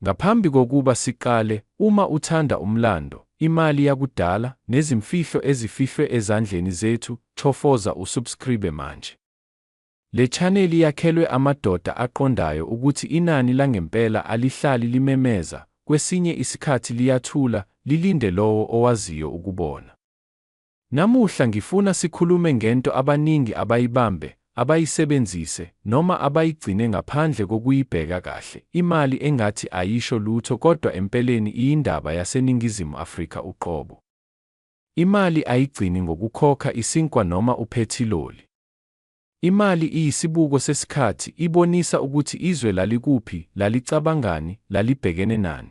Ngaphambi kokuba siqale, uma uthanda umlando, imali yakudala, nezimfihlo ezifihlwe ezandleni zethu, chofoza usubscribe manje. Le chaneli yakhelwe amadoda aqondayo ukuthi inani langempela alihlali limemeza, kwesinye isikhathi liyathula, lilinde lowo owaziyo ukubona. Namuhla ngifuna sikhulume ngento abaningi abayibambe, abayisebenzise, noma abayigcine ngaphandle kokuyibheka kahle, imali engathi ayisho lutho kodwa empeleni iyindaba yaseNingizimu Afrika uqobo. Imali ayigcini ngokukhokha isinkwa noma uphethiloli. Imali iyisibuko sesikhathi, ibonisa ukuthi izwe lalikuphi, lalicabangani, lalibhekene nani.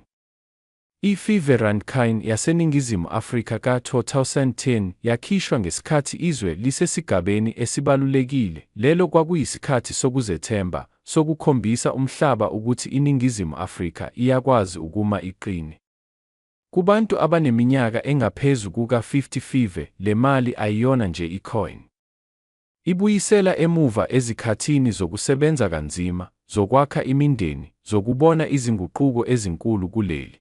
I-FIFARankin yaseNingizimu Afrika ka-2010 yakhishwa ngesikhathi izwe lisesigabeni esibalulekile, lelo kwakuyisikhathi sokuzethemba, sokukhombisa umhlaba ukuthi iNingizimu Afrika iyakwazi ukuma iqine. Kubantu abaneminyaka engaphezu kuka-50 FIFA le mali ayiyona nje i-coin. Ibuyisela emuva ezikhathini zokusebenza kanzima, zokwakha imindeni, zokubona izinguquko ezinkulu kuleli.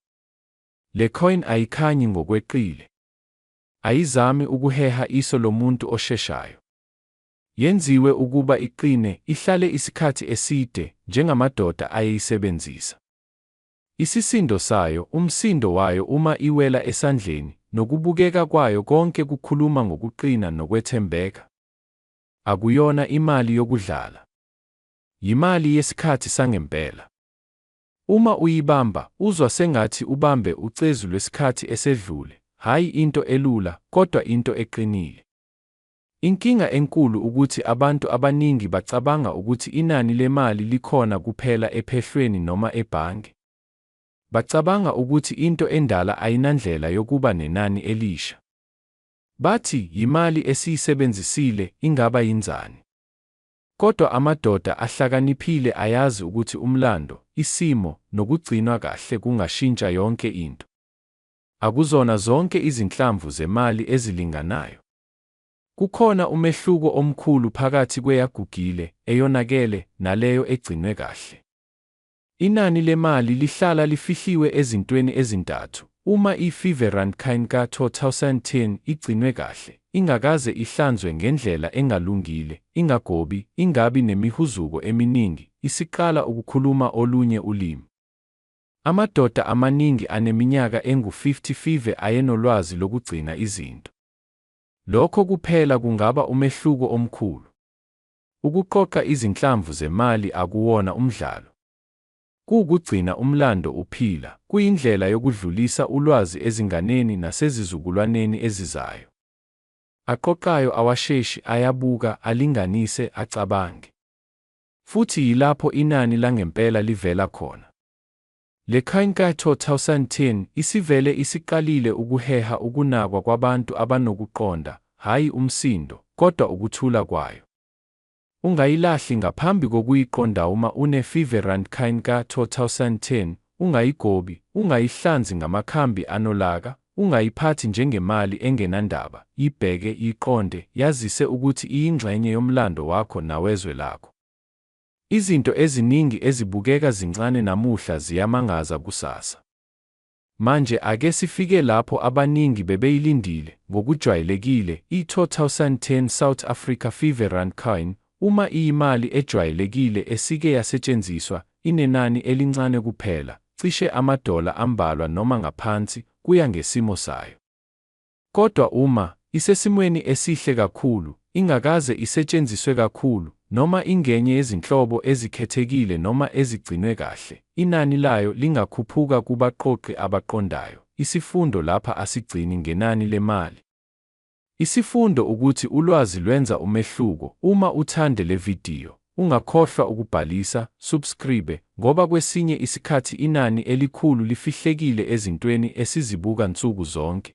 Le coin ayikhanyi ngokweqile. Ayizami ukuheha iso lomuntu osheshayo. Yenziwe ukuba iqine, ihlale isikhathi eside, njengamadoda ayeyisebenzisa. Isisindo sayo, umsindo wayo uma iwela esandleni, nokubukeka kwayo konke kukhuluma ngokuqina nokwethembeka. Akuyona imali yokudlala. Yimali yesikhathi sangempela. Uma uyibamba, uzwa sengathi ubambe ucezu lwesikhathi esedlule, hhayi into elula, kodwa into eqinile. Inkinga enkulu ukuthi abantu abaningi bacabanga ukuthi inani lemali likhona kuphela ephehlweni noma ebhange. Bacabanga ukuthi into endala ayinandlela yokuba nenani elisha. Bathi, Yimali esiyisebenzisile, ingaba yinzani? Kodwa amadoda ahlakaniphile ayazi ukuthi umlando, isimo, nokugcinwa kahle kungashintsha yonke into. Akuzona zonke izinhlamvu zemali ezilinganayo. Kukhona umehluko omkhulu phakathi kweyagugile, eyonakele, naleyo egcinwe kahle. Inani lemali lihlala lifihliwe ezintweni ezintathu, uma i-Feverandkine ka-2010 igcinwe kahle, ingakaze ihlanzwe ngendlela engalungile, ingagobi, ingabi nemihuzuko eminingi, isiqala ukukhuluma olunye ulimi. Amadoda amaningi aneminyaka engu-50 Fever ayenolwazi lokugcina izinto. Lokho kuphela kungaba umehluko omkhulu. Ukuqoqa izinhlamvu zemali akuwona umdlalo. Kuwukugcina umlando uphila, kuyindlela yokudlulisa ulwazi ezinganeni nasezizukulwaneni ezizayo. Aqoqayo awasheshi, ayabuka, alinganise, acabange. Futhi yilapho inani langempela livela khona. Le Khainkai 2010 isivele isiqalile ukuheha ukunakwa kwabantu abanokuqonda, hhayi umsindo, kodwa ukuthula kwayo. Ungayilahli ngaphambi kokuyiqondauma une Fever Rand Khainkai 2010, ungayigobi, ungayihlanzi ngamakhambi anolaka, ungayiphathi njengemali engenandaba, yibheke, yiqonde, yazise ukuthi iyingxenye yomlando wakho nawezwe lakho. Izinto eziningi ezibukeka zincane namuhla ziyamangaza kusasa. Manje ake sifike lapho abaningi bebeyilindile, ngokujwayelekile, i-2010 South Africa Fever Randcoin, uma iyimali ejwayelekile esike yasetshenziswa, inenani elincane kuphela, cishe amadola ambalwa noma ngaphansi, kuya ngesimo sayo. Kodwa uma isesimweni esihle kakhulu, ingakaze isetshenziswe kakhulu, noma ingenye yezinhlobo ezikhethekile noma ezigcinwe kahle, inani layo lingakhuphuka kubaqoqi abaqondayo. Isifundo lapha asigcini ngenani lemali. Isifundo ukuthi ulwazi lwenza umehluko. Uma uthande le vidiyo, Ungakhohlwa ukubhalisa, subscribe, ngoba kwesinye isikhathi inani elikhulu lifihlekile ezintweni esizibuka nsuku zonke.